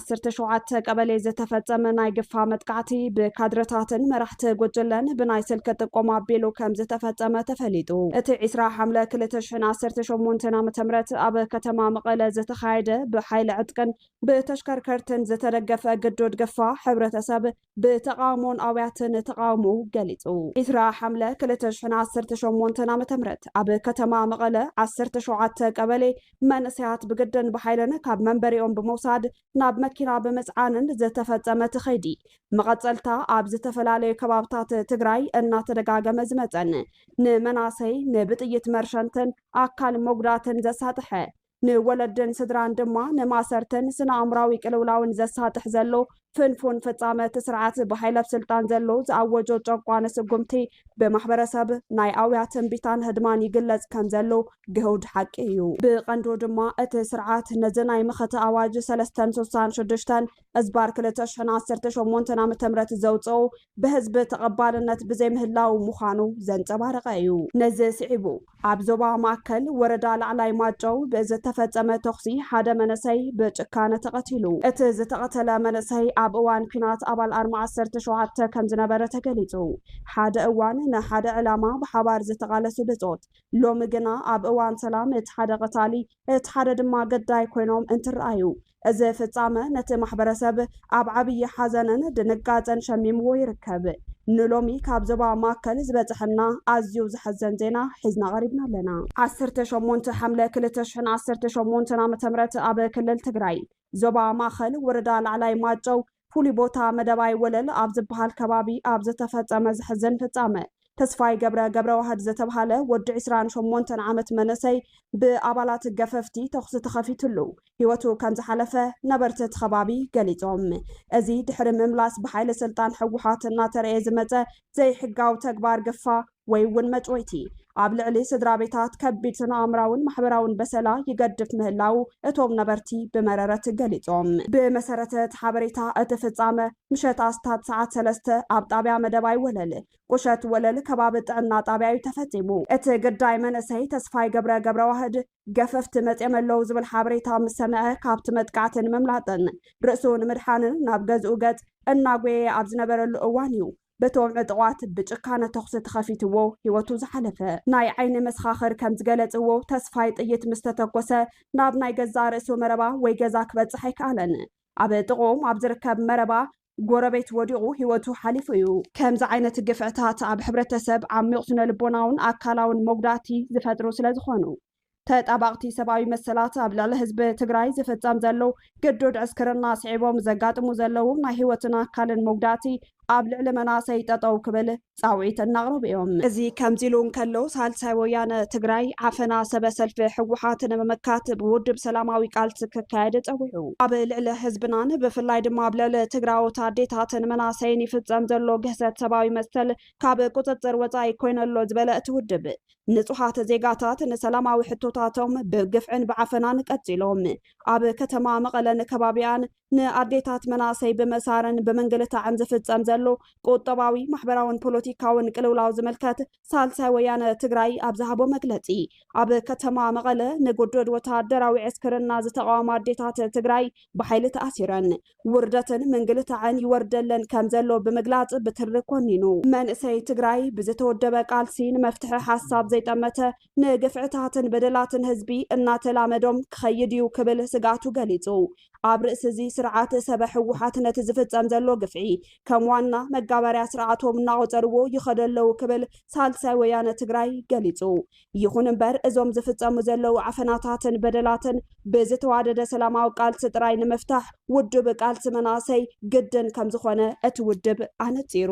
ዓሰርተ ሸውዓተ ቀበሌ ዝተፈጸመ ናይ ግፋ መጥቃዕቲ ብካድረታትን መራሕቲ ጉጅለን ብናይ ስልኪ ጥቆማ ኣቢሉ ከም ዝተፈጸመ ተፈሊጡ። እቲ ዒስራ ሓምለ ክልተ ሽሕን ዓሰርተ ሸሞንተን ዓመተ ምህረት ኣብ ከተማ መቐለ ዝተኻየደ ብሓይሊ ዕጥቅን ብተሽከርከርትን ዝተደገፈ ግዱድ ግፋ ሕብረተሰብ ብተቓውሞን ኣውያትን ተቓውሞኡ ገሊጹ። ዕስራ ሓምለ ክልተ ሽሕን ዓሰርተ ሸሞንተን ዓመተ ምህረት ኣብ ከተማ መቐለ ዓሰርተ ሸውዓተ ቀበሌ መንእሰያት ብግድን ብሓይልን ካብ መንበሪኦም ብምውሳድ ናብ መኪና ብምጽዓንን ዝተፈጸመ እቲ ከይዲ መቐጸልታ ኣብ ዝተፈላለዩ ከባብታት ትግራይ እናተደጋገመ ዝመጸን ንመናሰይ ንብጥይት መርሸንትን ኣካል መጉዳእትን ዘሳጥሐ ንወለድን ስድራን ድማ ንማእሰርትን ስነ-ኣእምራዊ ቅልውላውን ዘሳጥሕ ዘሎ ፍንፉን ፍጻመ እቲ ስርዓት ብሓይሊ ኣብ ስልጣን ዘሎ ዝኣወጆ ጨቋኒ ስጉምቲ ብማሕበረሰብ ናይ ኣውያትን ቢታን ህድማን ይግለጽ ከም ዘሎ ግህውድ ሓቂ እዩ። ብቐንዱ ድማ እቲ ስርዓት ነዚ ናይ መኸተ ኣዋጅ ሰለስተን ስሳን ሽዱሽተን እዝባር ክልተ ሽሕን ዓሰርተ ሸሞንተን ዓመተ ምህረት ዘውጽኦ ብህዝቢ ተቐባልነት ብዘይምህላዉ ምዃኑ ዘንጸባረቐ እዩ። ነዚ ስዒቡ ኣብ ዞባ ማእከል ወረዳ ላዕላይ ማጨው ብዝተፈጸመ ተኹሲ ሓደ መንእሰይ ብጭካነ ተቐቲሉ። እቲ ዝተቐተለ መንእሰይ ኣብ እዋን ኲናት ኣባል ኣርማ ዓሰርተ ሸውዓተ ከም ዝነበረ ተገሊጹ። ሓደ እዋን ንሓደ ዕላማ ብሓባር ዝተቓለሱ ብጾት ሎሚ ግና ኣብ እዋን ሰላም እቲ ሓደ ቐታሊ እቲ ሓደ ድማ ገዳይ ኮይኖም እንትረኣዩ እዚ ፍጻመ ነቲ ማሕበረሰብ ኣብ ዓብዪ ሓዘንን ድንጋጸን ሸሚምዎ ይርከብ። ንሎሚ ካብ ዞባ ማእከል ዝበጸሐና ኣዝዩ ዘሕዘን ዜና ሒዝና ቀሪብና ኣለና። ዓሰርተ ሸሞንተ ሓምለ ክልተ ሽሕን ዓሰርተ ሸሞንተን ዓመተ ምህረት ኣብ ክልል ትግራይ ዞባ ማእኸል ወረዳ ላዕላይ ማጨው ፍሉይ ቦታ መደባይ ወለል ኣብ ዝበሃል ከባቢ ኣብ ዝተፈፀመ ዘሕዝን ፍፃመ ተስፋይ ገብረ ገብረዋህድ ዝተብሃለ ወዲ ዕስራን ሸሞንተን ዓመት መንእሰይ ብኣባላት ገፈፍቲ ተኹሲ ተኸፊትሉ ህይወቱ ከምዝሓለፈ ነበርቲ እቲ ከባቢ ገሊፆም። እዚ ድሕሪ ምምላስ ብሓይሊ ስልጣን ህወሓት እናተረኤ ዝመፀ ዘይሕጋዊ ተግባር ግፋ ወይ እውን መጭወይቲ ኣብ ልዕሊ ስድራቤታት ከቢድ ስነኣእምራውን ማሕበራውን በሰላ ይገድፍ ምህላዉ እቶም ነበርቲ ብመረረት ገሊጾም። ብመሰረት እቲ ሓበሬታ እቲ ፍጻመ ምሸት ኣስታት ሰዓት ሰለስተ ኣብ ጣብያ መደባይ ወለል፣ ቁሸት ወለል፣ ከባቢ ጥዕና ጣብያ እዩ ተፈጺሙ። እቲ ግዳይ መንእሰይ ተስፋይ ገብረ ገብረዋህድ ገፈፍቲ መጽዮም ኣለዉ ዝብል ሓበሬታ ምስ ሰምዐ ካብቲ መጥቃዕቲ ንምምላጥን ርእሱ ንምድሓንን ናብ ገዝኡ ገጽ እናጎየየ ኣብ ዝነበረሉ እዋን እዩ በቶም ዕጡቓት ብጭካነ ተኹሲ ተኸፊትዎ ህይወቱ ዝሓለፈ ናይ ዓይኒ መሰኻኽር ከም ዝገለጽዎ፣ ተስፋይ ጥይት ምስ ተተኮሰ ናብ ናይ ገዛእ ርእሱ መረባ ወይ ገዛ ክበጽሕ ኣይከኣለን። ኣብ ጥቕኦም ኣብ ዝርከብ መረባ ጎረቤት ወዲቑ ህይወቱ ሓሊፉ እዩ። ከምዚ ዓይነት ግፍዕታት ኣብ ሕብረተሰብ ዓሚቕ ስነ-ልቦናውን ኣካላውን መጉዳእቲ ዝፈጥሩ ስለዝኾኑ፣ ተጣባቕቲ ሰብኣዊ መሰላት ኣብ ልዕሊ ህዝቢ ትግራይ ዝፍፀም ዘለዉ ግዱድ ዕስክርና ስዒቦም ዘጋጥሙ ዘለዉ ናይ ህይወትን ኣካልን መጉዳእቲ ኣብ ልዕሊ መናእሰይ ጠጠው ክብል ፃውዒት እናቕረቡ እዮም። እዚ ከምዚ ኢሉ እንከሎ ሳልሳይ ወያነ ትግራይ ዓፈና ሰበ ሰልፊ ህወሓት ንምምካት ብውድብ ሰላማዊ ቃልሲ ክካየድ ፀዊዑ። ኣብ ልዕሊ ህዝብናን ብፍላይ ድማ ኣብ ልዕሊ ትግራዎት ኣዴታትን መናእሰይን ይፍፀም ዘሎ ግህሰት ሰብኣዊ መሰል ካብ ቁፅፅር ወፃኢ ኮይነሎ ዝበለ እቲ ውድብ ንጹሃት ዜጋታት ንሰላማዊ ሕቶታቶም ብግፍዕን ብዓፈናን ቀጺሎም ኣብ ከተማ መቐለን ከባቢኣን ንኣዴታት መናእሰይ ብመሳርን ብምንግልታዕን ዝፍጸም ዘሎ ቁጠባዊ ማሕበራውን ፖለቲካውን ቅልውላው ዝምልከት ሳልሳይ ወያነ ትግራይ ኣብ ዝሃቦ መግለጺ ኣብ ከተማ መቐለ ንጉዱድ ወተሃደራዊ ዕስክርና ዝተቓወማ ኣዴታት ትግራይ ብሓይሊ ተኣሲረን ውርደትን ምንግልታዕን ይወርደለን ከምዘሎ ብምግላፅ ብትሪ ኮኒኑ። መንእሰይ ትግራይ ብዝተወደበ ቃልሲ ንመፍትሒ ሓሳብ ዘይጠመተ ንግፍዕታትን በደላትን ህዝቢ እናተላመዶም ክኸይድ እዩ ክብል ስግኣቱ ገሊፁ። ኣብ ርእሲ እዚ ስርዓት ሰበ ህወሓት ነቲ ዝፍፀም ዘሎ ግፍዒ ከም ዋና መጋበርያ ስርዓቶም እናቖፀርዎ ይኸዱ ኣለው ክብል ሳልሳይ ወያነ ትግራይ ገሊፁ። ይኹን እምበር እዞም ዝፍፀሙ ዘለዉ ዓፈናታትን በደላትን ብዝተዋደደ ሰላማዊ ቃልሲ ጥራይ ንምፍታሕ ውዱብ ቃልሲ መናእሰይ ግድን ከምዝኾነ እቲ ውድብ ኣነፂሩ።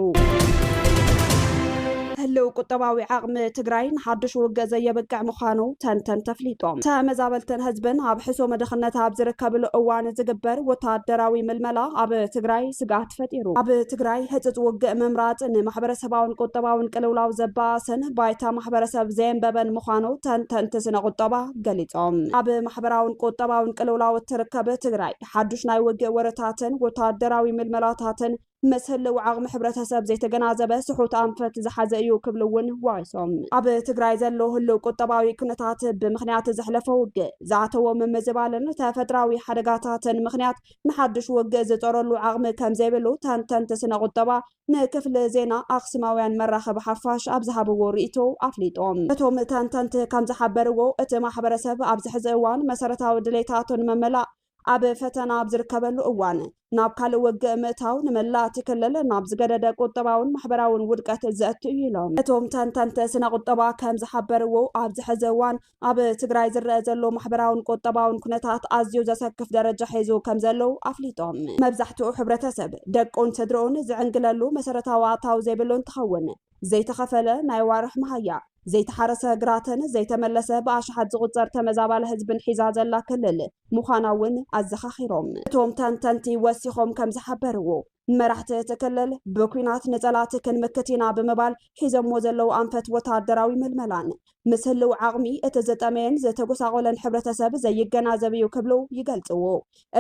ህልው ቁጠባዊ ዓቕሚ ትግራይ ንሓዱሽ ውግእ ዘየብቅዕ ምዃኑ ተንተንቲ ኣፍሊጦም። ተመዛበልትን ህዝብን ኣብ ሕሱም ድኽነት ኣብ ዝርከብሉ እዋን ዝግበር ወታደራዊ ምልመላ ኣብ ትግራይ ስግኣት ፈጢሩ። ኣብ ትግራይ ህፁፅ ውግእ ምምራፅ ንማሕበረሰባውን ቁጠባውን ቅልውላው ዘበኣስን ባይታ ማሕበረሰብ ዘየንበበን ምዃኑ ተንተንቲ ስነ ቁጠባ ገሊፆም። ኣብ ማሕበራውን ቁጠባውን ቅልውላው እትርከብ ትግራይ ሓዱሽ ናይ ውግእ ወረታትን ወታደራዊ ምልመላታትን ምስ ህልው ዓቕሚ ሕብረተሰብ ዘይተገናዘበ ስሑት ኣንፈት ዝሓዘ እዩ ክብሉ እውን ወቒሶም። ኣብ ትግራይ ዘሎ ህልው ቁጠባዊ ኩነታት ብምኽንያት ዘሕለፎ ውግእ ዝኣተዎ ምምዝባልን ተፈጥራዊ ሓደጋታትን ምኽንያት ንሓዱሽ ውግእ ዝፀረሉ ዓቕሚ ከምዘይብሉ ተንተንቲ ስነ ቁጠባ ንክፍሊ ዜና ኣክሱማውያን መራኸቢ ሓፋሽ ኣብ ዝሃብዎ ርእይቶ ኣፍሊጦም። እቶም ተንተንቲ ከምዝሓበርዎ፣ እቲ ማሕበረሰብ ኣብዚ ሕዚ እዋን መሰረታዊ ድሌታቱ ንምምላእ ኣብ ፈተና ኣብ ዝርከበሉ እዋን ናብ ካልእ ውግእ ምእታው ንመላእ እቲ ክልል ናብ ዝገደደ ቁጠባውን ማሕበራውን ውድቀት ዘእቱ እዩ ኢሎም። እቶም ተንተንቲ ስነ-ቁጠባ ከምዝሓበርዎ፣ ኣብዚ ሕዚ እዋን ኣብ ትግራይ ዝረኣ ዘሎ ማሕበራውን ቁጠባውን ኩነታት ኣዝዩ ዘሰክፍ ደረጃ ሒዙ ከም ዘለው ኣፍሊጦም። መብዛሕትኡ ሕብረተሰብ ደቁን ስድርኡን ዝዕንግለሉ መሰረታዊ ኣታዊ ዘይብሉ እንትኸውን ዘይተኸፈለ ናይ ኣዋርሕ መሃያ፣ ዘይተሓረሰ ግራትን ዘይተመለሰ ብኣሽሓት ዝቑፀር ተመዛባሊ ህዝብን ሒዛ ዘላ ክልል ምዃና እውን ኣዘኻኺሮም። እቶም ተንተንቲ ወሲኾም ከም ዝሓበርዎ፣ ንመራሕቲ እቲ ክልል ብኲናት ንፀላእቲ ክንምክት ኢና ብምባል ሒዘሞ ዘለዉ ኣንፈት ወታደራዊ ምልመላን ምስ ህልው ዓቕሚ እቲ ዝጠመየን ዝተጎሳቖለን ሕብረተሰብ ዘይገናዘብ እዩ ክብሉ ይገልፅዎ።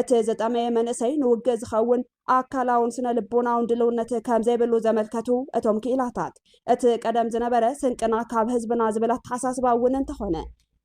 እቲ ዝጠመየ መንእሰይ ንውግእ ዝኸውን ኣካላውን ስነ ልቦናውን ድልውነት ከምዘይብሉ ዘመልከቱ እቶም ክኢላታት እቲ ቀደም ዝነበረ ስንቅና ካብ ህዝብና ዝብል ኣተሓሳስባ እውን እንተኾነ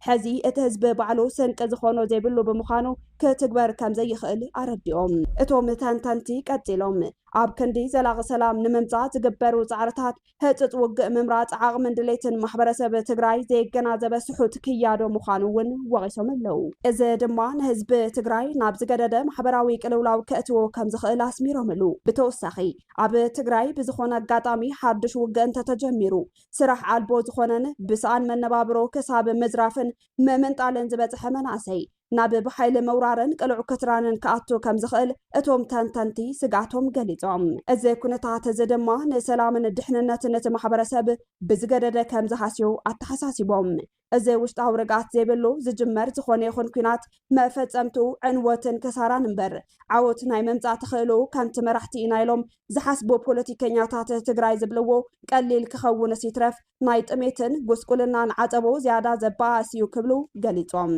ሐዚ እቲ ህዝቢ ባዕሉ ስንቂ ዝኾኖ ዘይብሉ ብምዃኑ ክትግበር ከምዘይኽእል ኣረዲኦም። እቶም ተንተንቲ ቀፂሎም ኣብ ክንዲ ዘላቒ ሰላም ንምምፃእ ዝግበሩ ፃዕርታት ህፅፅ ውግእ ምምራፅ ዓቕምን ድሌትን ማሕበረሰብ ትግራይ ዘየገናዘበ ስሑት ክያዶ ምዃኑ እውን ወቒሶም ኣለው። እዚ ድማ ንህዝቢ ትግራይ ናብ ዝገደደ ማሕበራዊ ቅልውላው ከእትዎ ከምዝኽእል ኣስሚሮምሉ። ብተወሳኺ ኣብ ትግራይ ብዝኾነ ኣጋጣሚ ሓዱሽ ውግእ እንተተጀሚሩ ስራሕ ኣልቦ ዝኾነን ብሰኣን መነባብሮ ክሳብ ምዝራፍን ምምንጣልን ዝበፅሐ መናእሰይ ናብ ብሓይሊ ምውራርን ቅልዑ ክትራንን ክኣቱ ከም ዝኽእል እቶም ተንተንቲ ስግኣቶም ገሊፆም። እዚ ኩነታት እዚ ድማ ንሰላምን ድሕንነትን እቲ ማሕበረሰብ ብዝገደደ ከም ዝሃስዮ ኣተሓሳሲቦም። እዚ ውሽጣዊ ርግኣት ዘይብሉ ዝጅመር ዝኾነ ይኹን ኲናት መፈጸምትኡ ዕንወትን ክሳራን እምበር ዓወት ናይ ምምጻእ ተኽእሎኡ ከምቲ መራሕቲ ኢና ኢሎም ዝሓስቡ ፖለቲከኛታት ትግራይ ዝብልዎ ቀሊል ክኸውንስ ይትረፍ ናይ ጥሜትን ጉስቁልናን ዓጸቦ ዝያዳ ዘበኣእስ እዩ ክብሉ ገሊጾም።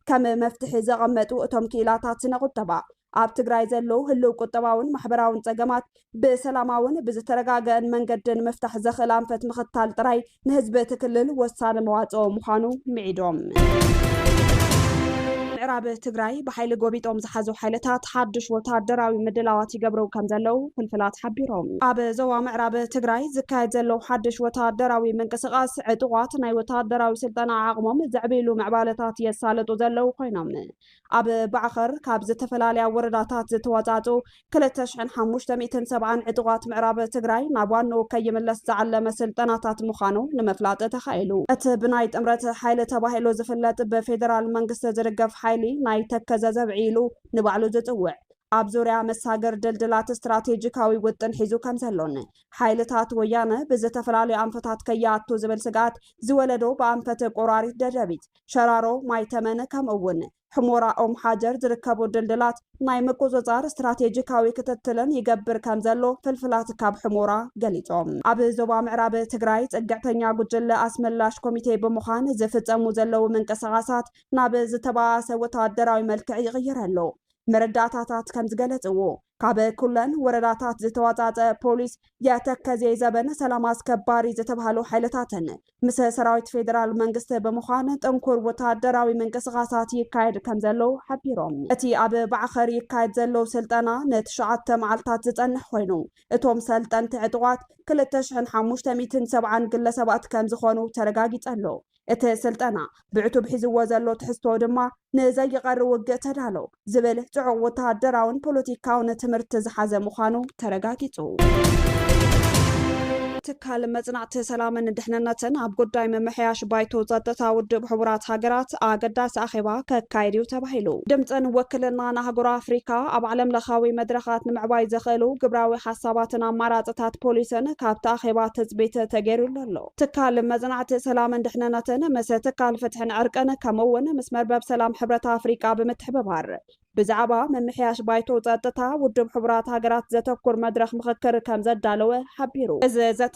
ከም መፍትሒ ዘቐመጡ እቶም ክኢላታት ስነ ቁጠባ ኣብ ትግራይ ዘሎ ህልው ቁጠባውን ማሕበራውን ጸገማት ብሰላማውን ብዝተረጋገእን መንገዲ ንምፍታሕ ዘኽእል ኣንፈት ምኽታል ጥራይ ንህዝቢ እቲ ክልል ወሳኒ መዋጽኦ ምዃኑ ምዒዶም። ምዕራብ ትግራይ ብሓይሊ ጎቢጦም ዝሓዙ ሓይልታት ሓድሽ ወታደራዊ ምድላዋት ይገብሩ ከም ዘለዉ ፍልፍላት ሓቢሮም። ኣብ ዞባ ምዕራብ ትግራይ ዝካየድ ዘሎ ሓድሽ ወታደራዊ ምንቅስቓስ ዕጡቓት ናይ ወታደራዊ ስልጠና ዓቕሞም ዘዕብይሉ ምዕባለታት የሳልጡ ዘለዉ ኮይኖም ኣብ ባዕኸር ካብ ዝተፈላለያ ወረዳታት ዝተዋፃፅኡ ክልተ ሽሕን ሓሙሽተ ሚእትን ሰብዓን ዕጡቓት ምዕራብ ትግራይ ናብ ዋንኡ ከይምለስ ዝዓለመ ስልጠናታት ምዃኑ ንምፍላጥ ተኻኢሉ። እቲ ብናይ ጥምረት ሓይሊ ተባሂሉ ዝፍለጥ ብፌደራል መንግስቲ ዝድገፍ ሓይሊ ናይ ተከዘ ዘብዒ ኢሉ ንባዕሉ ዝፅውዕ ኣብ ዙርያ መሳግር ድልድላት ስትራቴጂካዊ ውጥን ሒዙ ከምዘሎን ሓይልታት ወያነ ብዝተፈላለዩ ኣንፈታት ከይኣቱ ዝብል ስግኣት ዝወለዶ ብኣንፈት ቆራሪት ደደቢት ሸራሮ፣ ማይ ተመን ከምኡ'ውን ሕሞራ ኦም ሓጀር ዝርከቡ ድልድላት ናይ ምቁጽጻር ስትራቴጂካዊ ክትትልን ይገብር ከምዘሎ ፍልፍላት ካብ ሕሞራ ገሊጾም። ኣብ ዞባ ምዕራብ ትግራይ ጽግዕተኛ ጉጅለ ኣስመላሽ ኮሚቴ ብምዃን ዝፍጸሙ ዘለዉ ምንቅስቓሳት ናብ ዝተባኣሰ ወተሃደራዊ መልክዕ ይቕይር ኣሎ። መረዳእታታት ከምዝገለጽዎ፣ ካብ ኩለን ወረዳታት ዝተዋፃፀ ፖሊስ፣ የተከዜ ዘበን ሰላም ኣስከባሪ ዝተብሃሉ ሓይልታትን ምስ ሰራዊት ፌዴራል መንግስቲ ብምዃን ጥንኩር ወታደራዊ ምንቅስቓሳት ይካየድ ከምዘሎ ሓቢሮም። እቲ ኣብ ባዕኸር ይካየድ ዘሎ ስልጠና ንትሽዓተ መዓልታት ዝፀንሕ ኾይኑ እቶም ሰልጠንቲ ዕጡቓት ክልተ ሽሕን ሓሙሽተ ሚእትን ሰብዓን ግለሰባት ከምዝኾኑ ተረጋጊፀ ኣሎ። እቲ ስልጠና ብዕቱብ ሒዝዎ ዘሎ ትሕዝቶ ድማ ንዘይቐሪ ውግእ ተዳሎ ዝብል ጽዑቕ ወተሃደራውን ፖለቲካውን ትምህርቲ ዝሓዘ ምዃኑ ተረጋጊጹ። ትካል መጽናዕቲ ሰላምን ድሕንነትን ኣብ ጉዳይ ምምሕያሽ ባይቶ ጸጥታ ውድብ ሕቡራት ሃገራት ኣገዳሲ ኣኼባ ከካይድ እዩ ተባሂሉ። ድምጽን ወክልናን ኣህጉር ኣፍሪካ ኣብ ዓለም ለኻዊ መድረኻት ንምዕባይ ዘኽእሉ ግብራዊ ሓሳባትን ኣማራፅታት ፖሊስን ካብቲ ኣኼባ ትፅቢት ተገይሩሉ ኣሎ። ትካል መጽናዕቲ ሰላምን ድሕነነትን ምስ ትካል ፍትሕን ዕርቅን ከምኡ'ውን ምስ መርበብ ሰላም ሕብረት ኣፍሪቃ ብምትሕብባር ብዛዕባ ምምሕያሽ ባይቶ ጸጥታ ውድብ ሕቡራት ሃገራት ዘተኩር መድረኽ ምኽክር ከም ዘዳለወ ሓቢሩ። እዚ ዘተ